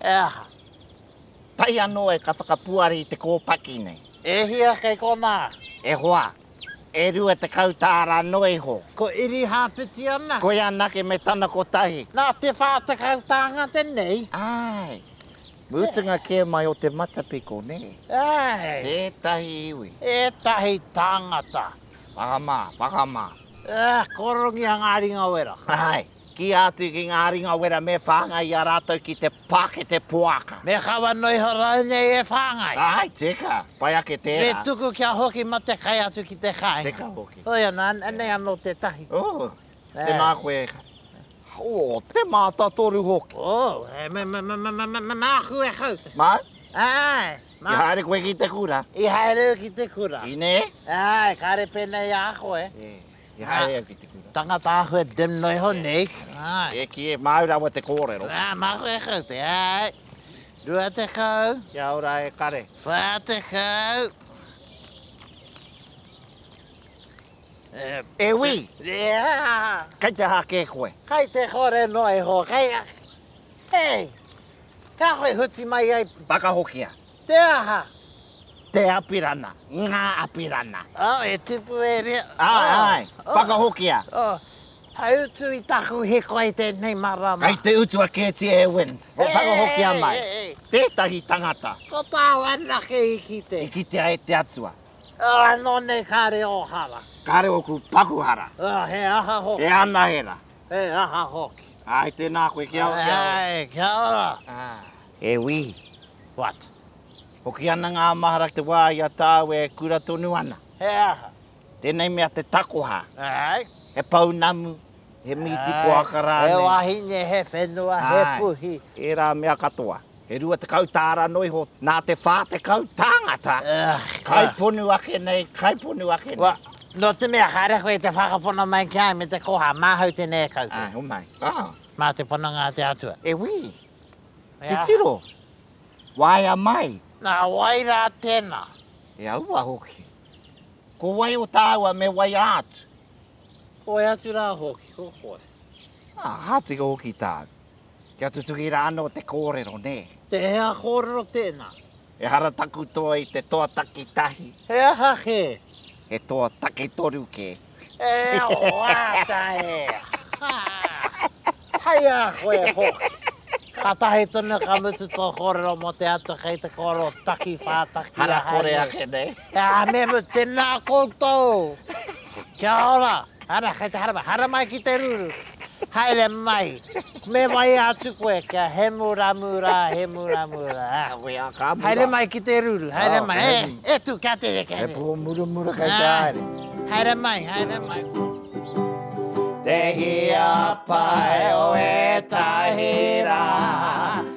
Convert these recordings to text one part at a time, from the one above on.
E aha? Tae anō e ka whakapuari i te kōpaki nei. E hia kei konā? E hoa, e rua tekau tāra noa iho. Ko Irihāpeti ana? Koia anake me tana kotahi. Nā te whā tekau tāngata nei? Āe. Mutunga kē mai o te matapiko, nē? Āe. Tētahi iwi. Ētahi tāngata. Whakamā, whakamā. Ā, kōrongia ngā ringawera. Āe. Kīia atu ki ngā ringa wera me whāngai i a rātou ki te pākete poaka. Me kawa noa iho rānei e whāngai. Āe, teka, pai ake tērā. Me tuku kia hoki mā te kai atu ki te kāinga. Teka hoki. Hoi anō, anei anō tētahi. Oh, tēnā koe. Oh, te mātatoru hoki. Oh, māku e kau te. Māu? Āe. I haere koe ki te kura? I haere au ki te kura. Inee? Āe, kāre pēnei ā koe. I haere au ki te kura. Tangata ahua dimno iho nei. Ai. E ki e māu rawa te kōrero. Ā, mahue e kau te ai. Rua te kau. Kia ora e kare. Whā te kau. E wī! Kei te aha kē koe? Kei te kore noa iho, kei... Hei! Kāhore huti mai ai. Whakahokia. Te aha? Te apirana, ngā apirana. Oh, e tipu e rea. Āe, āe, whakahokia. Oh, hai utu i taku hiko i tēnei marama. Kei te utua kētia e Wins. Oh, whakahokia mai. Tētahi tangata. Ko tāu anake i kite. I kitea e te Atua. Oh, anō nei kāre ō hara. Kāre ōku paku hara. Oh, he aha hoki. He anahera. He aha hoki. Āe, tēnā koe, kia ora. Āe, kia ora. E wi! What? Hoki ana ngā mahara te wā i a tāu e kura tonu ana. He aha? Tēnei mea te takoha. Āe. He pounamu, he mīti poaka rānei. He wahine, he whenua, he puhi. Āe, ērā mea katoa. He rua tekau tāra noa iho nā te whā tekau tāngata. Kaiponu ake nei, kaiponu ake nei. What? Nō te mea kāre koe i te whakapono mai ki a au me te koha, māhau tēnei e koutou. Āe, homai. Mā te pononga a te Atua. E wi! Titiro, waea mai. Na wai ra tena? E aua hoki. Ko wai o taua me waia atu? Koe atu ra hoki, ko koe. A, ha tino hoki tau. Kia tutuki ra ano te korero, ne? Te hea korero tena? Ehara taku toa i te toa takitahi. He aha kē? He toa taketoru kē. E whāta e! Ha! Hai a koe hoki! Ka tahi tonu ka mutu tō kōrero mō te ata kei te kōrero taki whātaki ahau nei. Hara kore ake nei. Kia memu tena koutou. Kia ora. Ana kei te haramai. Haramai ki te ruru. Haere mai. Me mai atu koe kia he mura mura he mura mura. Koe a ka mura. Haere mai ki te ruru. Haere mai. E, e tu kia tere kere. He po mura mura kei te haere. Haere mai, haere mai. Te hia pai o etahi ra.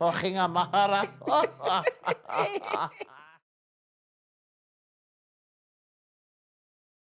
Hokinga mahara.